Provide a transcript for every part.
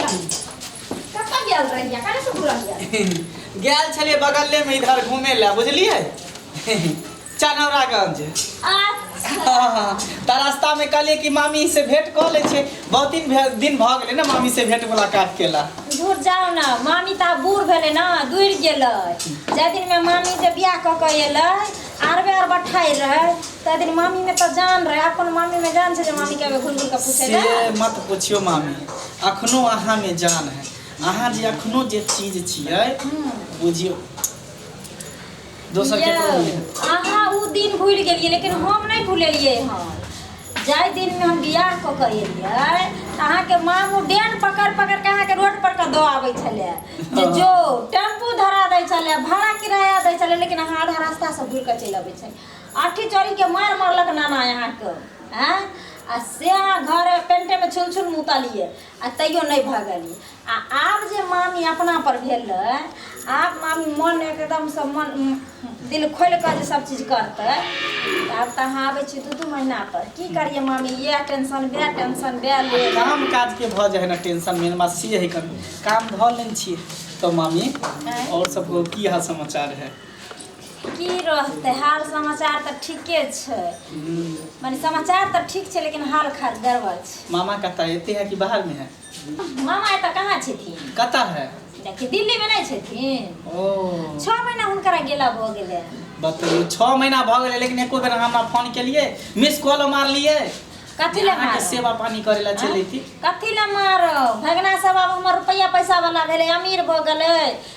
कतऽ गेल रहिया काहे से भूल गेल गेल छलिए बगले में इधर घूमे ला बुझलिए चनौरागंज अच्छा ता रास्ता में कहलिए कि मामी से भेंट कर ले छे बहुत दिन भे- दिन भ गेले ना मामी से भेंट मुलाकात केला दूर जाओ ना मामी ता बूढ़ भेले ना दूर गेलै जाहि दिन में मामी से बियाह कऽ के एलै आर बेर बठाई रहे ते दिन मामी में तो जान रहे अपन मामी में जान छे जे मामी के घुर घुर के पूछे से ले मत पूछियो मामी अखनो अहाँ में जान है अहाँ जे अखनो जे चीज छियै बुझियो दोसर के यौ, अहाँ उ दिन भूल गेलिए लेकिन हम नहीं भूलेलिए हम जाहि दिन में हम बियाह कऽ के एलियै तऽ अहाँके मामू डेन पकड़ पकड़ के अहाँके रोड पर के दऽ आबै छलै जे जो टेम्पू धरा दै छलै भाड़ा किराया दै छलै लेकिन अहाँ आधा रास्ता से घुर के चलि अबै छलै आठी चोरी के मार मारलक नाना अहाँके हैं आ से अहाँ घर पेंटे में छुल छुल मुतलियै आ तैयो नहि भऽ गेलियै आ आब जे मामी अपना पर भेल रहै आब मामी मन एकदमसँ मन दिल खोलि कऽ जे सब चीज करतै आब तऽ अहाँ आबै छी दू दू महीना पर की करियै मामी इएह टेंशन वएह टेंशन वएह ले काम काज के भऽ जाए ने टेंशन मेन बात से है कन काम धऽ लेने छियै तो मामी और सब की हाल समाचार है की रहतै हाल समाचार तऽ ठीके छै माने समाचार तऽ ठीक छै लेकिन हाल खात गड़बड़ छै मामा कतऽ है? एते है कि बाहर में है मामा एतऽ कहाँ छथिन कतऽ है देखिए दिल्ली में नहीं छथिन ओ छः महीना हुनकरा गेला भऽ गेलै बतैयौ छओ महीना भऽ गेलै लेकिन एको बेर अहाँ हमरा फोन केलियै मिस कॉलो मारलियै कथी लए अहाँके मारब सेवा पानी करै लए चलि अयती कथी लए मारब भगना सब आब हमर रुपैआ पैसा वाला भेलै अमीर भऽ गेलै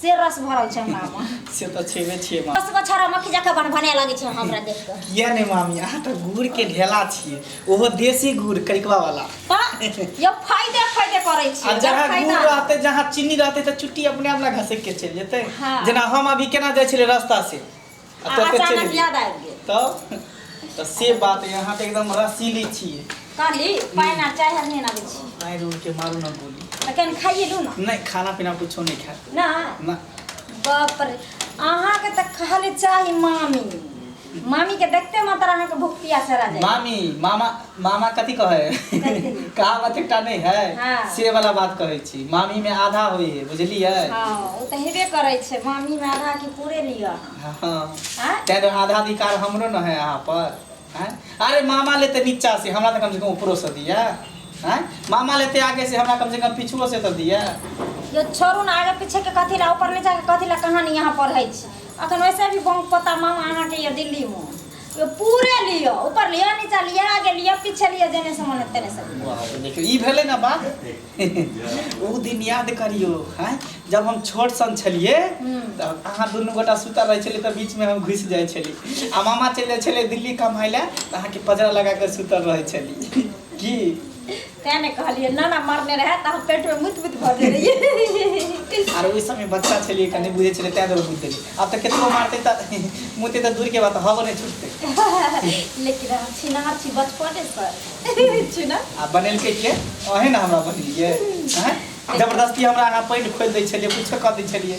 से रस भरल छै हमरा मे से तऽ छेबे छियै माँ रस बछारा मक्खी जकाँ बन भने लगै छै हमरा देख कऽ किया नहि मामी अहाँ तऽ गुड़ के ढेला छियै ओहो देसी गुड़ करिकवा वाला तऽ यो फायदे फायदे करै छै आ जहाँ गुड़ फायदा रहतै जहाँ चीनी रहतै तऽ चुट्टी अपने आप ना घसक के चलि जेतै हाँ। जेना हम अभी केना जाइ छलियै रास्ता से आ तब के अचानक चलि याद आबि गेल तब तऽ से बात है अहाँ तऽ एकदम रसीली छियै कहली पानि आ चाय हर नहि आबै छी आइ रोड के मारू ना गोली तऽ कनि खाइए लू ने नहि खाना पीना कुछो नहीं खाए ना ना बाप रे अहाँके तऽ खाली चाही मामी मामीके देखते मात्र अहाँके भूख पियास हरा जाए मामी मामा मामा कथी कहै है कहावत एकटा नहीं है हाँ। से वाला बात कहै छी मामी में आधा होई है बुझलिए हाँ ओ तो हेबे करे छे मामी में आधा की पूरे लिया हाँ हाँ तेरे आधा अधिकार हमरो न है यहाँ पर हाँ? अरे मामा लेते नीचा से हमरा तो कम से कम ऊपरो से दिया हाँ? मामा लेते आगे से हमरा कम से कम पिछुओ से तो दिया यो छोड़ू ना आगे पीछे के कथी ला ऊपर नीचा के कथी ला कहानी यहाँ पढ़े छी अखन वैसे भी बम पता मामा अहाँ के ये दिल्ली में यो पूरे लियो ऊपर लियो नीचा लियो आगे लियो पीछे लियो देने से मन तेने से वाह, तो देखियो ई भेलै ना बात ओ दिन याद करियो हैं जब हम छोट सन छलिए हम्म। तब अहाँ दुनू गोटा सुतल रहै छलिए तऽ बीच में हम घुसि जाइ छलिए आ मामा चलि जाइ छलिए दिल्ली कमाइ लए तऽ अहाँके पजरा लगा कऽ सुतल रहै छलिए की तैं ने कहलियै नाना मरने रहै तऽ हम पेटमे मुत मुत भऽ गेल रहियै आर ओहि समय बच्चा छलियै कनि बुझै छलियै तैं दुआरे मुत देलियै आब तऽ केतनो मारतै तऽ मुते तऽ दूरके बात हवो नहि छुटतै लेकिन हम छिनार छी बचपनेसँ छी ने आ बनेलकै के ओहे ने हमरा बनेलियै आँय? जबरदस्ती हमरा अहाँ पानि खोलि दै छलियै किछो कऽ दै छलियै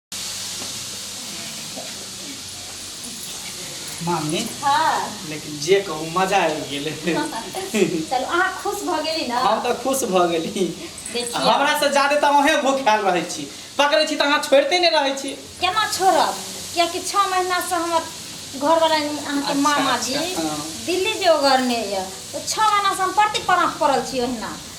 मामी हाँ लेकिन जे कहू मजा आबि गेलै चलू अहाँ खुश भऽ गेली ने हम तऽ खुश भऽ गेली देखियौ हमरा से जादे तऽ अहें भूखायल रहै छी पकड़ै छी तऽ अहाँ छोड़िते नहि रहै छी केना छोड़ब कियाकि छः महीनासँ हमर घरवला अहाँके अच्छा, मामा जी अच्छा, हाँ। दिल्ली जे ओगरने यऽ तऽ छः महीनासँ हम प्रति परास पड़ल छी ओहिना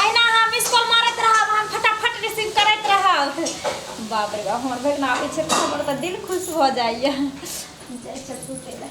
अहिना अहाँ मिस कॉल मारैत रहब हम फटाफट रिसीव करैत रहब बाप रे बाप हमर बेगना आबै छै तऽ हमर तऽ दिल खुश भऽ जाइए जाइ छथि सुतै लए